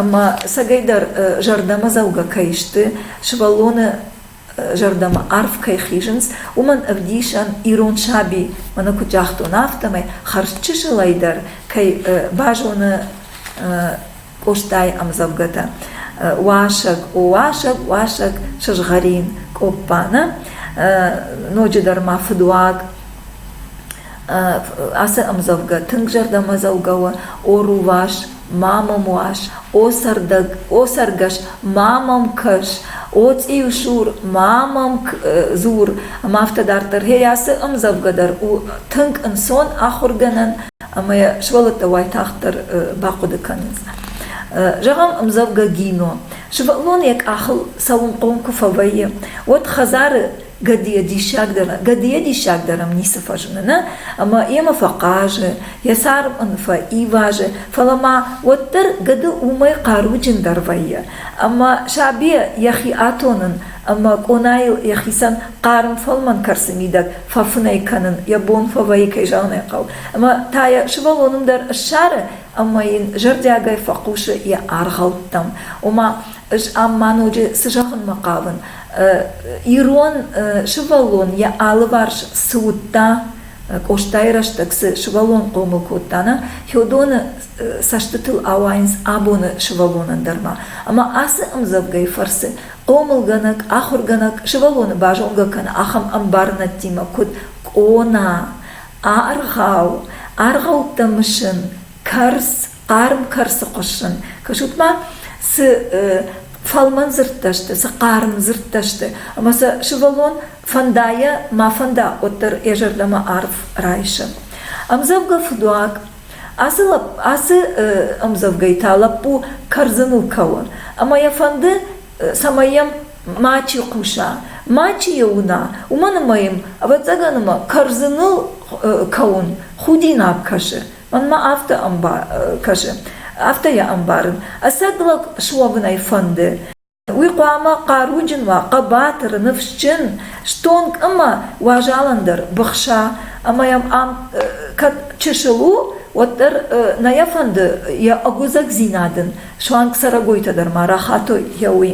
ӕмӕ ӕцӕгӕйдӕр зӕрдӕмӕдзӕугӕ кӕй сты, сывӕллоны зӕрдӕмӕ арф кӕй хизынц, уымӕн ӕвдисӕн ирон саби, мӕнӕ куыд загътон, афтӕмӕй хӕрз чысылӕй дӕр кӕй базоны Къостайы ӕмдзӕвгӕтӕ. Уасӕг, о уасӕг, уасӕг сызгъӕрин къоппаны, ноджыдӕр ма фыдуаг, ацы ӕмдзӕвгӕ тынг зӕрдӕмӕдзӕугӕ у, о рувас, Ма мӕм уас, о цӕрдӕг, о цӕргӕс, ма мӕм кӕс, о цъиусур, ма мӕм дзур. Ӕмӕ афтӕ дарддӕр. Гъей, ацы ӕмдзӕвгӕ дӕр у тынг ӕнцон ахуыргӕнӕн ӕмӕ йӕ сывӕллӕттӕ уайтагъддӕр бахъуыды кӕнынц. Зӕгъӕм, ӕмдзӕвгӕ Гино. Сывӕллон йӕ къахыл цӕуынхъом куы фӕвӕййы, уӕд хӕдзары Гӕдыйӕ диссагдӕр, гӕдыйӕ диссагдӕр ӕм ницы фӕзыны, нӕ? Ӕмӕ йемӕ фӕхъазы, йӕ царм ын фӕивазы, фӕлӕ ма уӕддӕр гӕды уымӕй хъаруджындӕр вӕййы. Ӕмӕ сабийӕ йӕхи атонын ӕмӕ къонайыл йӕхицӕн хъарм фӕлмӕн кӕрцы мидӕг фӕфынӕй кӕнын йӕ бон фӕвӕййы, кӕй зӕгъын ӕй хъӕуы. Ӕмӕ та йӕ сывӕллон ым дӕр ссары ӕмӕ йын зӕрдиагӕй фӕхъусы йӕ аргъӕуттӕм. Ома, ӕз ӕм ма ноджы цы зӕгъынмӕ хъавын, Ирон сывӕллон йӕ алыварс цы уыдта, Къостайы рӕстӕг цы сывӕллон хъомыл кодта, нӕ Феодоны цӕстытыл ауайынц абоны сывӕллонӕн дӕр ма. Ӕмӕ ацы ӕмдзӕвгӕйы фӕрцы хъомылгӕнӕг, ахуыргӕнӕг сывӕллоны базонгӕ кӕны ахӕм ӕмбарынӕдтимӕ, куыд къона, аргъау, аргъӕуттӕ мысын, кӕрц, хъарм кӕрцы хуыссын. Кӕсут ма, цы фӕлмӕн дзырдтӕ сты, цы хъарм дзырдтӕ сты, ӕмӕ сӕ сывӕллон фӕндайӕ ма фӕнда уӕддӕр йӕ зӕрдӕмӕ арф райсы. Ӕмдзӕвгӕ Фыдуаг Ацы, лӕп, ацы ӕмдзӕвгӕйы та лӕппу кӕрдзыныл кӕуы, ӕмӕ йӕ фӕнды, цӕмӕй йӕм мачи хъуса, мачи йӕ уына, уымӕн ӕмӕ йын, ӕвӕццӕгӕн, ӕмӕ кӕрдзыныл кӕуын худинаг кӕсы. Мӕнмӕ афтӕ кӕсы, афтӕ йӕ ӕмбарын. Ӕцӕг лӕг суӕвынӕй фӕнды. Уый хъуамӕ хъаруджын уа, хъӕбатыр, ныфсджын, стонг ӕмӕ уазалӕн дӕр быхса. Ӕмӕ йӕм ам кӕд чысыл у, уӕддӕр нӕ йӕ фӕнды йӕ ӕгуыдзӕгдзинад ын суанг цӕрӕгойтӕ дӕр ма рахатой йӕ уый.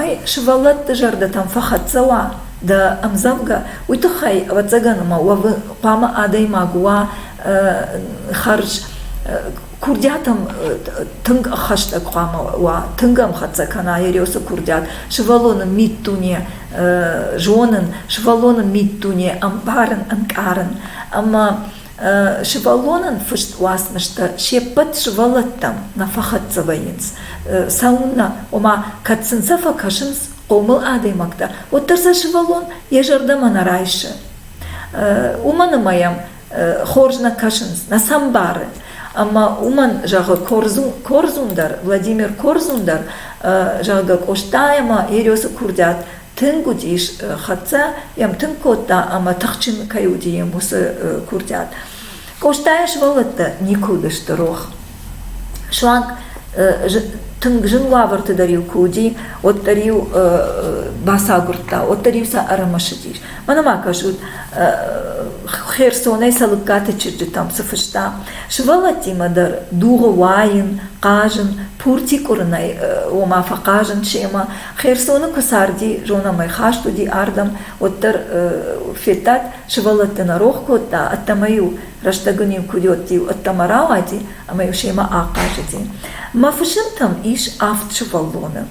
Ай сывӕллӕтты зӕрдӕтӕм фӕхӕццӕ уа, дӕ ӕмдзӕвгӕ, уый тыххӕй, ӕвӕццӕгӕн, ӕмӕ уӕвы хъуамӕ адӕймаг уа хӕрз курдиатӕм тынг ӕххӕстӕг хъуамӕ уа, тынг ӕмхӕццӕ кӕна Ересы курдиат, сывӕллоны миддуне зонын, сывӕллоны миддуне ӕмбарын, ӕнкъарын ӕмӕ Сывӕллонӕн фыст уацмыстӕ се ппӕт сывӕллӕттӕм нӕ фӕхӕццӕ вӕййынц. Цӕуылнӕ, ома, кӕд сын сӕ фӕкӕсынц хъомыл адӕймӕгтӕ, уӕддӕр сӕ сывӕллон йӕ зӕрдӕмӕ нӕ райсы. Уымӕн ӕмӕ йӕм хорз нӕ кӕсынц, нӕ сӕмбары. Ӕмӕ уымӕн, зӕгъы Корзун дӕр, Владимир Корзун дӕр, зӕгъгӕ, Къоста ӕмӕ Ересы курдиат Тынг уыдис хӕццӕ, йӕм тынг кодта ӕмӕ тыхджын кӕй уыди йӕм уыцы курдиат. Къостайы сывӕллӕттӕ никуы уыдысты рох. Суанг тынг зын уавӕрты дӕр-иу куы уыди, уӕддӕр-иу бацагуырдта, уӕддӕр-иу сӕ ӕрымысыдис. Мӕнӕ ма кӕсут, Херсонӕй Цӕлыккаты чызджытӕм цы фыста. Сывӕллӕттимӕ дӕр дугъы уайын, хъазын, пурти курынӕй, ома фӕхъазын семӕ, Херсоны куы царди, зонӕм ӕй, хаст уыди ардӕм, уӕддӕр федтат, сывӕллӕтты нӕ рох кодта, ӕддӕмӕ-иу рӕстӕг ын-иу куыд йодти, ӕддӕмӕ рауади ӕмӕ-иу семӕ ахъазыди. Мӕ фысымтӕм ис авд сывӕллоны.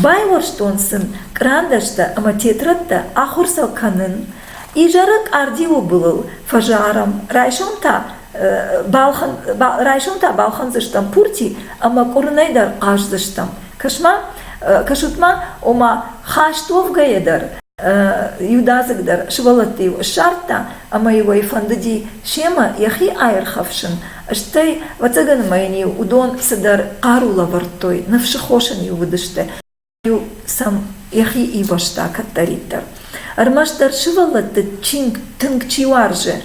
Байуӕрстон сын кърандӕстӕ ӕмӕ тетрӕдтӕ ахуырцӕ кӕнын. Изӕры къардиуы былыл фӕзарӕм, райсом та балхӕн, райсом та балхӕндзыстӕм пурти ӕмӕ къуырынӕй дӕр хъаздзыстӕм, кӕсут-ма, ома хаст уӕвгӕйӕ дӕр иудадзыгдӕр сывӕллӕтты-иу ссардта ӕмӕ-иу ӕй фӕндыди семӕ йӕхи аирхӕфсын, стӕй, ӕвӕццӕгӕн ма йын-иу уыдон цыдӕр хъару лӕвӕрдтой, ныфсы хосӕн-иу уыдысты, иу сӕм йӕхи ивӕзта кӕддӕриддӕр. Ӕрмӕстдӕр сывӕллӕтты чинг тынг чи уарзы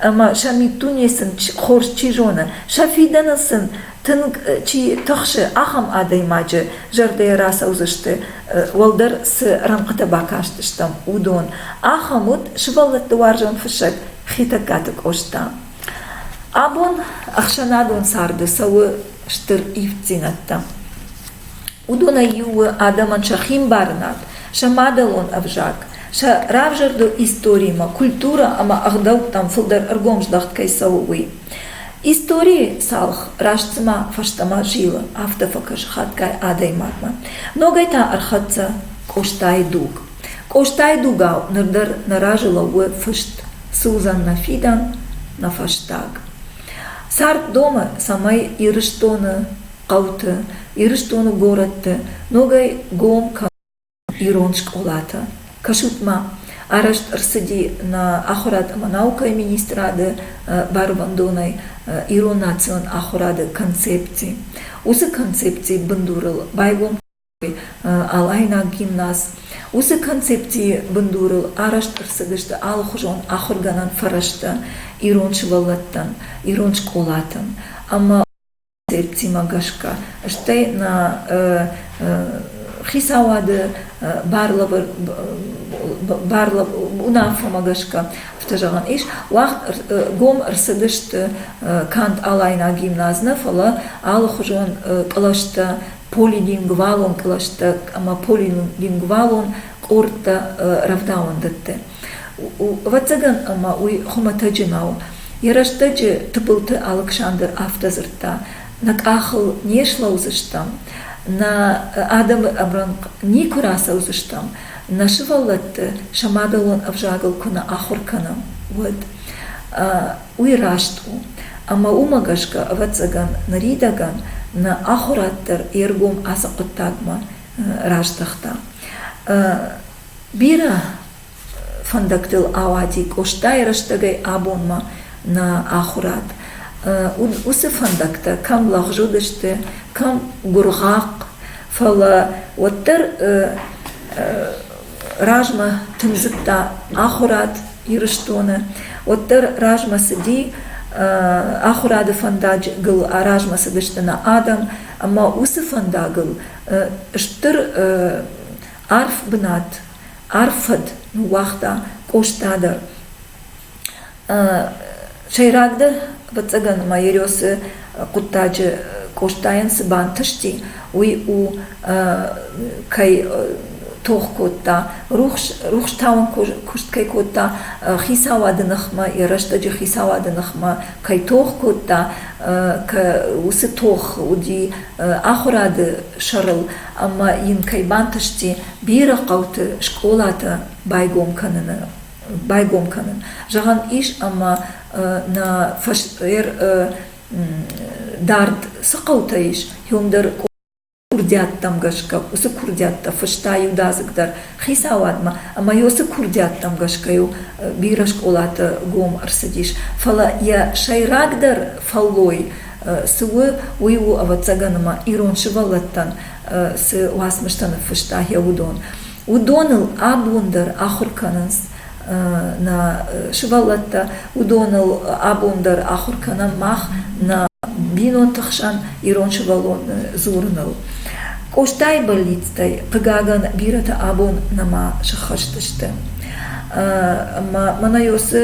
ӕмӕ сӕ миддуне сын хорз чи зоны, сӕ фидӕныл сын тынг чи тыхсы, ахӕм адӕймаджы зӕрдӕйӕ рацӕудзысты, уӕлдӕр цы рӕнхъытӕ бакастыстӕм, уыдон. Ахӕм уыд сывӕллӕтты уарзон фыссӕг Хетӕгкаты Къоста. Абон ӕхсӕнадон царды цӕуы стыр ивддзинӕдтӕ. Уыдонӕй иу у адӕмӕн сӕ химбарынад, сӕ мадӕлон ӕвзаг, сӕ равзӕрды историмӕ, культурӕ ӕмӕ ӕгъдӕуттӕм фылдӕр ӕргом здӕхт кӕй цӕуы, уый. Историйы цалх раст цыма фӕстӕмӕ зилы, афтӕ фӕкӕсы хатгай адӕймагмӕ. Ногӕй та ӕрхӕццӕ Къостайы дуг. Къостайы дугау ныр дӕр нӕ разы лӕууы фыст: «Цы уыдзӕн нӕ фидӕн, нӕ фӕстаг?» Цард домы, цӕмӕй Ирыстоны хъӕуты, Ирыстоны горӕтты ногӕй гом кӕна. ирон скъолатӕ. Кӕсут-ма, арӕзт ӕрцыди нӕ ахуырад ӕмӕ наукӕйы министрады барвӕндонӕй ирон национ ахуырады концепци. Уыцы концепцийы бындурыл байгом алайнаг гимназ. Уыцы концепцийы бындурыл арӕзт ӕрцыдысты алыхуызон ахуыргӕнӕн фӕрӕзтӕ ирон сывӕллӕттӕн, ирон скъолатӕн ӕмӕ темптимӕ гӕсгӕ, стӕй нӕ хицауады уынаффӕмӕ гӕсгӕ афтӕ зӕгъӕн ис, уагъд гом ӕрцыдысты канд алайнаг гимназ нӕ, фӕлӕ алыхуызон кълӕстӕ, полилингвалон кълӕстӕ ӕмӕ полилингвалон къордтӕ рӕвдауӕндӕтты. Ӕвӕццӕгӕн ӕмӕ уый хуымӕтӕджы нӕу. Йӕ рӕстӕджы Тыбылты Алыксандр афтӕ дзырдта: Нӕ къахыл не слӕудзыстӕм, нӕ адӕмы ӕврӕнхъ никуы рацӕудзыстӕм, нӕ сывӕллӕтты сӕ мадӕлон ӕвзагыл куы нӕ ахуыр кӕнӕм, уӕд. Уый раст у. Ӕмӕ уымӕ гӕсгӕ, ӕвӕццӕгӕн, ныридӕгӕн нӕ ахуырад дӕр йе ргом ацы хъуыддагмӕ раздӕхта. Бирӕ фӕндӕгтыл ауади Къостайы рӕстӕгӕй абонмӕ нӕ ахуырад. Уыцы фӕндӕгтӕ кӕм лӕгъз уыдысты, кӕм гуыргъахъ, фӕлӕ уӕддӕр размӕ тынг зыдта ахуырад Ирыстоны. Уӕддӕр размӕ цыди ахуырады фӕндаджыгыл размӕ цыдысты нӕ адӕм, ӕмӕ уыцы фӕндагыл стыр Арф бынат, арфӕд ныууагъта Къоста дӕр. Сӕйрагдӕр, ӕвӕццӕгӕн, ма Ересы хъуыддаджы Къостайӕн цы бантысти, уый у кӕй тох кодта, рухс, рухстауын куыст кӕй кодта, хицауады ныхмӕ, йӕ рӕстӕджы хицауады ныхмӕ кӕй тох кодта, уыцы тох уыди ахуырады сӕрыл, ӕмӕ йын кӕй бантысти бирӕ хъӕуты скъолатӕ байгом кӕныны байгом кӕнын. Зӕгъӕн ис ӕмӕ нӕ фӕсфер дард цы хъӕутӕ ис, иуым дӕр курдиаттӕм гӕсгӕ уыцы курдиаттӕ фыста иудадзыгдӕр хицауадмӕ ӕмӕ йӕ уыцы курдиаттӕм гӕсгӕ-иу бирӕ скъолатӕ гом ӕрцыдис. Фӕлӕ йӕ сӕйрагдӕр фӕллой цы у, уый у, ӕвӕццӕгӕн, ӕмӕ ирон сывӕллӕттӕн цы уацмыстӕ ныффыста йӕ уыдон. Уыдоныл абон дӕр ахуыр кӕнынц нӕ сывӕллӕттӕ, уыдоныл абон дӕр ахуыр кӕнӕм мах нӕ бинонты хсӕн ирон сывӕллон дзурыныл. Къостайы бӕллицтӕй, хъыгагӕн, бирӕтӕ абон нӕма сыххӕст сты. Ӕмӕ мӕнӕ уыцы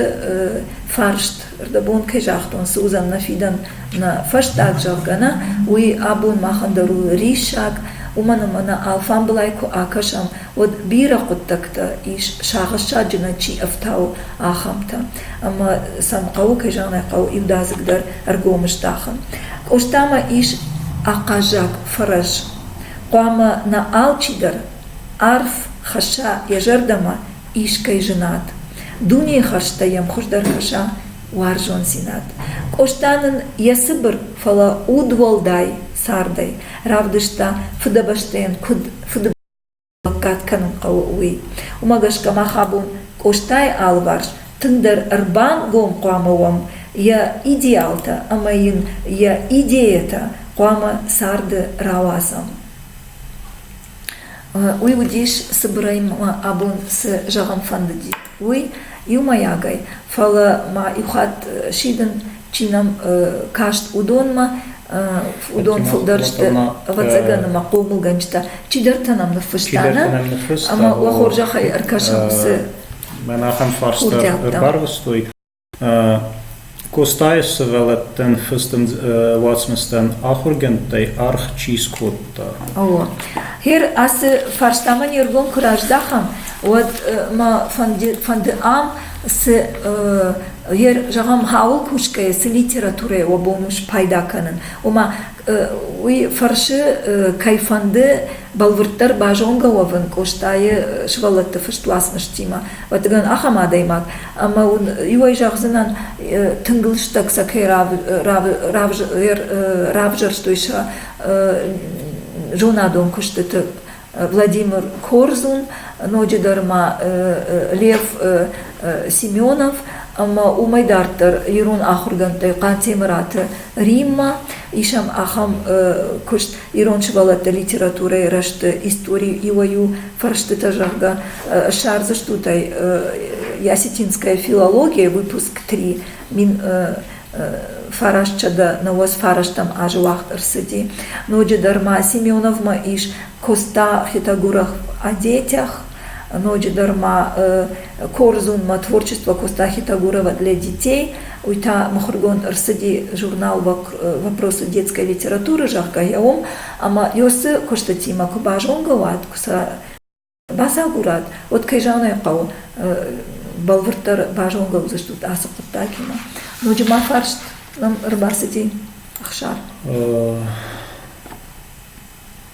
фарст Рдӕбон кӕй загътон, цы уыдзӕн нӕ фидӕн, нӕ фӕстаг, зӕгъгӕ нӕ, уый абон махӕн дӕр у риссаг, уымӕн ӕмӕ нӕ алфамбылай куы акӕсӕм, уӕд бирӕ хъуыддӕгтӕ ис, сагъӕссаджы нӕ чи ӕфтауы, ахӕмтӕ. Ӕмӕ сӕм хъӕуы, кӕй зӕгъынӕй хъӕуы, иудадзыгдӕр ӕргом здахын. Къостамӕ ис ахъаззаг фӕрӕз. Хъуамӕ нӕ алчидӕр арф хӕсса йӕ зӕрдӕмӕ искӕй знат. дунейы хӕрзтӕ йӕм хуыздӕр кӕса уарзондзинад. Къоста нын йӕ цыбыр, фӕлӕ удуӕлдай цардӕй равдыста, фыдӕбӕстӕйӕн куыд фыдбыллӕггад кӕнын хъӕуы, уый. Уымӕ гӕсгӕ мах абон Къостайы алыварс тынгдӕр ӕрбангом хъуамӕ уӕм йӕ идеалтӕ ӕмӕ йын йӕ идейӕтӕ хъуамӕ царды рауадзӕм. Уый уыдис цыбырӕй мӕ абон цы зӕгъын фӕндыди, уый иумӕйагӕй, фӕлӕ ма иухатт сидын, чи нӕм каст, уыдонмӕ, уыдон фылдӕр сты, ӕвӕццӕгӕн, ӕмӕ хъомылгӕнджытӕ, чидӕртӕ нӕм ныффыста ӕмӕ уӕ хорзӕхӕй ӕркӕсӕм уыцы курдиӕттӕм. Мӕн ахӕм фарста ӕрбарвыстой, Къостайы сывӕллӕттӕн фыстын уацмыстӕн ахуыргӕндтӕй аргъ чи скодта? О, хӕр ацы фарст ӕмӕ не ргом куы раздахӕм, уӕд мӕ фӕнды фӕнды ам цы зӕгъӕм хауыл кусгӕйӕ цы литературӕйы уӕ бон у спайда кӕнын, ома уый фӕрсы кӕй фӕнды бӕлвырддӕр базонгӕ уӕвын Къостайы сывӕллӕтты фыст уацмыстимӕ. Ӕвӕццӕгӕн ахӕм адӕймаг Ӕмӕ уын иуӕй зӕгъдзынӕн, тынг лыстӕг сӕ кӕй равзӕрстой сӕ зонадон куыстыты. Владимир Корзун, ноджыдӕр ма Лев Семенов ӕмӕ уымӕй дарддӕр ирон ахуыргӕндтӕй Хъантемыраты Риммӕ, ис ӕм ахӕм куыст, Ирон сывӕллӕтты литературӕйы рӕзты истори иуӕй-иу фӕрстытӕ, зӕгъгӕ, ссардзыстут ӕй Ясетинская филология, выпуск 3. Мин фарастсӕдӕ науӕдз фарӕстӕм азы уагъд ӕрцыди. Ноджыдӕр ма Семеновмӕ ис Коста Хетагуров о детях, ноджыдӕр ма корз у-мӕ творчество Костахи Тагурова для детей. Уый та мыхуыргонд ӕрцыди журнал «Вопросы детской литературы» зӕгъгӕ йӕ уым, ӕмӕ Иосы куыстытимӕ куы базонгӕ уат, куы сӕ бацагурат, уӕд кӕй зӕгъын ӕй хъӕуы, бӕлвырддӕр базонгӕ уыдзыстут ацы хъуыддагимӕ. Ноджы ма фарст нӕм ӕрбацыди Ӕхсар.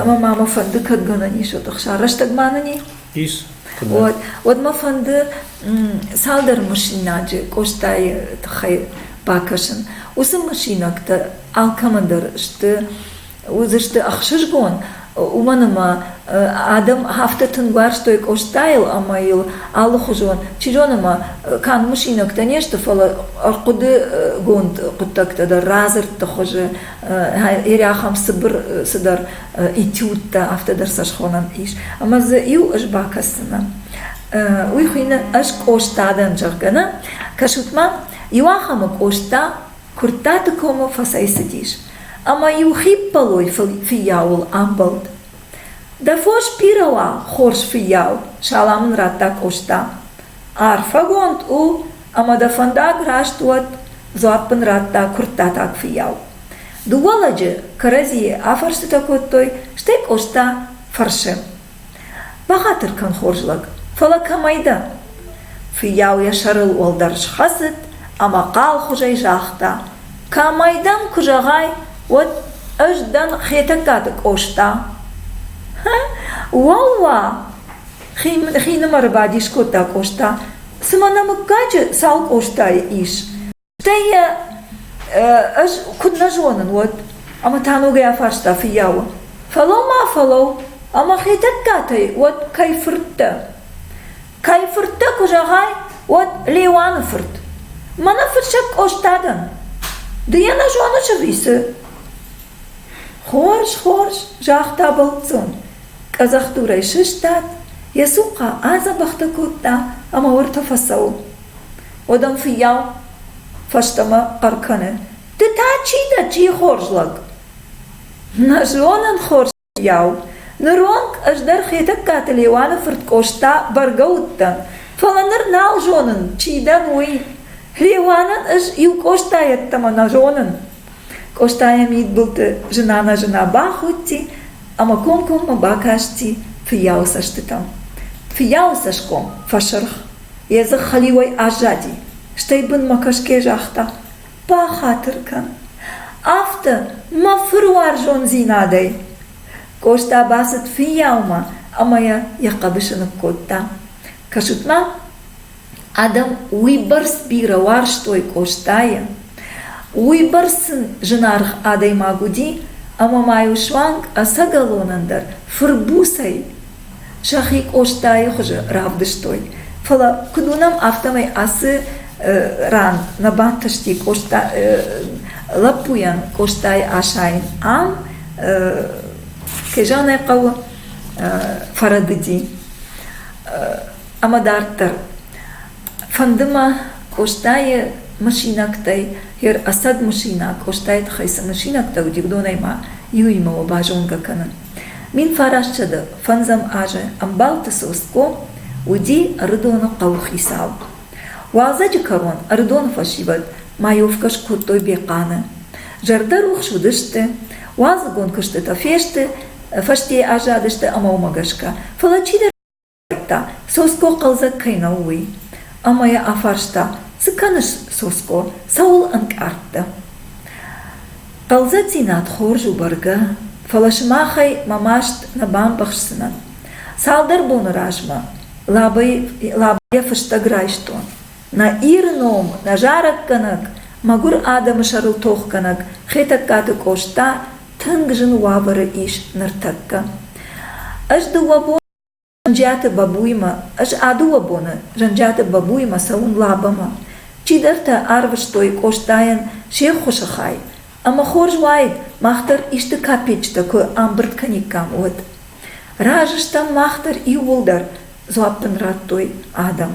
Ӕмӕ ма мӕ фӕнды, кӕд гӕнӕн ис отыхса рӕстӕг ма нын и? Ис. Уӕд мӕ фӕнды цалдӕр машинаджы Къостайы тыххӕй бакӕсын. Уыцы машинӕгтӕ алкӕмӕ дӕр сты уыдзысты ӕхсызгон, уымӕн ӕмӕ адӕм афтӕ тынг уарзтой Къостайыл ӕмӕ йыл алыхуызон, чи зоны ма канд мысинӕгтӕ не сты, фӕлӕ ӕрхъуыдыгонд хъуыддӕгтӕ дӕр, радзырдты хуызы, ӕри ахӕм цыбыр цыдӕр этюдтӕ, афтӕ дӕр сӕ схонӕн ис. Ӕмӕ дзы иу ӕз бакӕсдзынӕн. Уый хуыйны Ӕз Къоста дӕн, зӕгъгӕ, нӕ? Кӕсут-ма, иу ахӕмы Къоста Куырттаты комы фӕцӕйцыдис ӕмӕ-иу хиппӕлой фыййауыл амбӕлд. Дӕ фос пирӕ уа, хорз фыййау, салам ын радта Къоста. Арфӕгонд у ӕмӕ дӕ фӕндаг раст уӕд, дзуапп ын радта куырттатаг фыййау. Дыууӕ лӕджы кӕрӕдзийы афӕрстытӕ кодтой, стӕй Къоста фӕрсы. Бахатыр кӕн, хорз лӕг, фӕлӕ кӕмӕй дӕ? Фыййау йӕ сӕрыл уӕлдӕр схӕцыд ӕмӕ хъалхуызӕй загъта: Кӕмӕй дӕм куы зӕгъай, уӕд ӕз дӕн Хетӕгкаты Къоста. Уӕу-уа! хинымӕры бадис кодта Къоста. Цымӕ нӕ мыггаджы сау Къостайы ис? Стӕй йӕ ӕз куыд нӕ зонын уӕд, ӕмӕ та ногӕй афарста фыййауы, фӕлӕу ма фӕлӕу, ӕмӕ Хетӕгкатӕй уӕд кӕй фырт дӕ? Кӕй фырт дӕ куы зӕгъай, уӕд Леуаны фырт. Мӕнӕ фыссӕг Къоста дӕн. Ды йӕ нӕ зоныс ӕви цы? Хорз, хорз, загъта бӕлццон. Къӕдзӕхдурӕй сыстад, йӕ цухъа адзӕбӕхтӕ кодта ӕмӕ уӕртӕ фӕцӕуы. уӕд ӕм фыййау фӕстӕмӕ хъӕр кӕны: Ды та чи дӕ, чи хорз лӕг? Нӕ зонын, хорз фыййау. ныронг ӕз дӕр Хетӕгкаты Леуаны фырт Къоста бӕргӕ уыдтӕн, фӕлӕ ныр нал зонын, чи дӕн, уый. Леуанӕн ӕз иу Къоста йедтӕмӕ нӕ зонын. Къостайӕ мидбылты зына-нӕзына бахудти ӕмӕ комкоммӕ бакасти фыййауы цӕстытӕм. Фыййауы цӕсгом фӕсырх, йӕ дзых хӕлиуӕй аззади, стӕй бынмӕ кӕсгӕ загъта: «Бахатыр кӕн, афтӕ мӕ фыруарзондзинадӕй!» Къоста бацыд фыййаумӕ ӕмӕ йӕ йӕ хъӕбысы ныккодта. «Кӕсут-ма!» Адӕм уыйбӕрц бирӕ уарзтой Къостайы, уыйбӕрц сын зынаргъ адӕймаг уыди, ӕмӕ ма-иу суанг ӕцӕгӕлонӕн дӕр фырбуцӕй сӕхи Къостайы хуызы равдыстой. Фӕлӕ куыд уынӕм, афтӕмӕй ацы ран нӕ бантысти Къоста лӕппуйӕн Къостайы асайын. Ам, кӕй зӕгъын ӕй хъӕуы, фӕрӕдыди. ӕмӕ дарддӕр. Фӕнды мӕ Къостайы мысинӕгтӕй, йе рцӕг мысинаг Къостайы тыххӕй цы мысинӕгтӕ уыди, уыдонӕй ма иуимӕ уӕ базонгӕ кӕнын. Мин фарасчъыды фӕндзӕм азы Ӕмбалты Цоцко уыди Ӕрыдоны хъӕуыхицау. Уалдзӕджы кӕрон Ӕрыдоны фӕсивӕд маевкӕ скодтой Бехъаны. Зӕрдӕрухс уыдысты, уалдзыгон куыстытӕ фесты, фӕстейы аззадысты ӕмӕ уымӕ гӕсгӕ, фӕлӕ чидӕр кодта, Цоцко хъӕлдзӕг кӕй нӕу, уый. Ӕмӕ йӕ афарста, Цы кӕныс, Цоцко, цӕуыл ӕнкъард дӕ? Хъӕлдзӕгдзинад хорз у бӕргӕ, фӕлӕ сымахӕй мӕ маст нӕ бамбӕхсдзынӕн. Цалдӕр боны размӕ лабӕйӕ фыстӕг райстон. Нӕ Иры ном, нӕ зарӕггӕнӕг, мӕгуыр адӕмы сӕрыл тохгӕнӕг Хетӕгкаты Къоста тынг зын уавӕры ис ныртӕккӕ. Ӕз дыууӕ боны Рӕнджиаты Бӕбуимӕ Ӕз а-дыууӕ боны Рӕнджиаты Бӕбуимӕ цӕуын Лабӕмӕ. Чидӕртӕ арвыстой Къостайӕн се ххуысы хай, ӕмӕ хорз уаид, мах дӕр исты капеччытӕ куы амбырд кӕниккам, уӕд. Разы стӕм мах дӕр иууылдӕр, дзуапп ын радтой адӕм.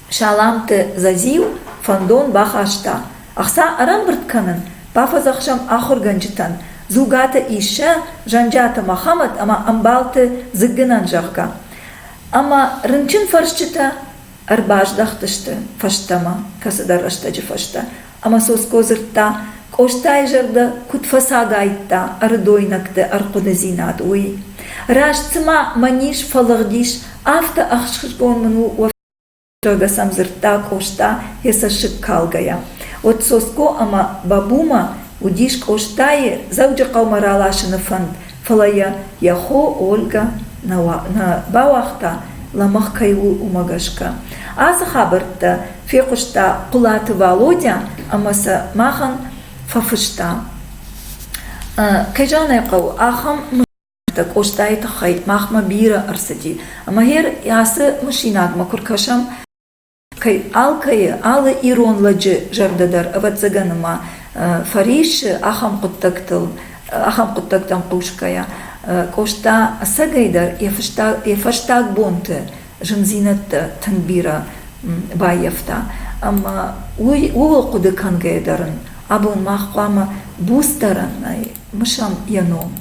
Саламты Зазил фӕндон бахаста ӕхца ӕрӕмбырд кӕнын, бафӕдзӕхсӕм ахуыргӕнджытӕн, Дзугаты Иссӕ, Зӕнджиаты Мӕхӕмӕт ӕмӕ Ӕмбалты Дзыггынӕн, зӕгъгӕ. Ӕмӕ рынчын фӕрсджытӕ ӕрбаздӕхтысты фӕстӕмӕ кӕцыдӕр рӕстӕджы фӕстӕ, ӕмӕ Цоцко дзырдта, Къостайы зӕрдӕ куыд фӕцагайдта ӕрыдойнӕгты ӕрхъуыдыдзинад, уый. Раст цыма мӕн ис фӕлыгъдис, афтӕ ӕхсызгон мын у уӕ Тогда сӕм дзырдта Къоста, йӕ цӕссыг калгӕйӕ. Уӕд Цоцко ӕмӕ Бабумӕ уыдис Къостайы Дзӕуджыхъӕумӕ раласыны фӕнд, фӕлӕ йӕ йӕ хо Ольгӕ нӕ бауагъта, лӕмӕгъ кӕй у, уымӕ гӕсгӕ. Ацы хабӕрттӕ фехъуыста Хъуылаты Валодя ӕмӕ сӕ махӕн фӕфыста. Кӕй зӕгъын ӕй хъӕуы, ахӕм Къостайы тыххӕй махмӕ бирӕ ӕрцыди. Ӕмӕ гъер ацы мысинагмӕ куы ркӕсӕм, кӕй алкӕйы, алы ирон лӕджы зӕрдӕ дӕр, ӕвӕццӕгӕн ма фӕриссы ахӕм хъуыддӕгтыл, ахӕм хъуыддӕгтӕм хъусгӕйӕ. Къоста ӕцӕгӕйдӕр йӕ фӕстаг бонты зындзинӕдтӕ тынг бирӕ баййӕфта. Ӕмӕ уый ууыл хъуыды кӕнгӕйӕ дӕр ын абон мах хъуамӕ буц дӕрӕн нӕ мысӕм йӕ ном.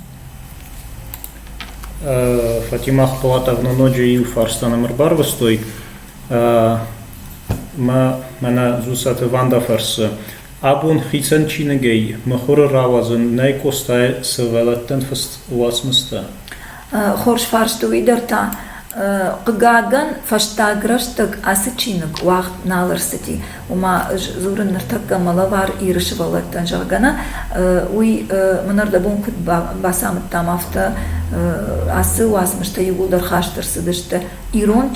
Фатимӕ Хътуатовна ноджы иу фарстан ӕм ӕрбарвыстой. Мӕ мӕнӕ Дзусаты Ванда фӕрсы: абон хицӕн чиныгӕй мыхуыры рауадзын нӕй Къостайы сывӕллӕттӕн фыст уацмыстӕ? Хорз фарст у уый дӕр та. Хъыгагӕн, фӕстаг рӕстӕг ацы чиныг уагъд нал ӕрцыди. ома дзурын ныртӕккӕ мӕ лӕвар Иры сывӕллӕттӕн, зӕгъгӕ нӕ, уый мын ӕрдӕбон куыд бацамыдтам, афтӕ ацы уацмыстӕ иууылдӕр хаст ӕрцыдысты ирон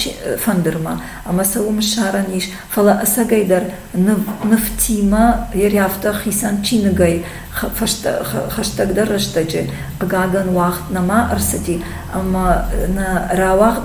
фӕндырмӕ, ӕмӕ сӕ уым ссарӕн ис, фӕлӕ ӕцӕгӕйдӕр ныв, нывтимӕ йӕ рӕфтӕ хицӕн чиныгӕй хӕстӕгдӕр рӕстӕджы, хъыгагӕн, уагъд нӕма ӕрцыди ӕмӕ нӕ рауагъд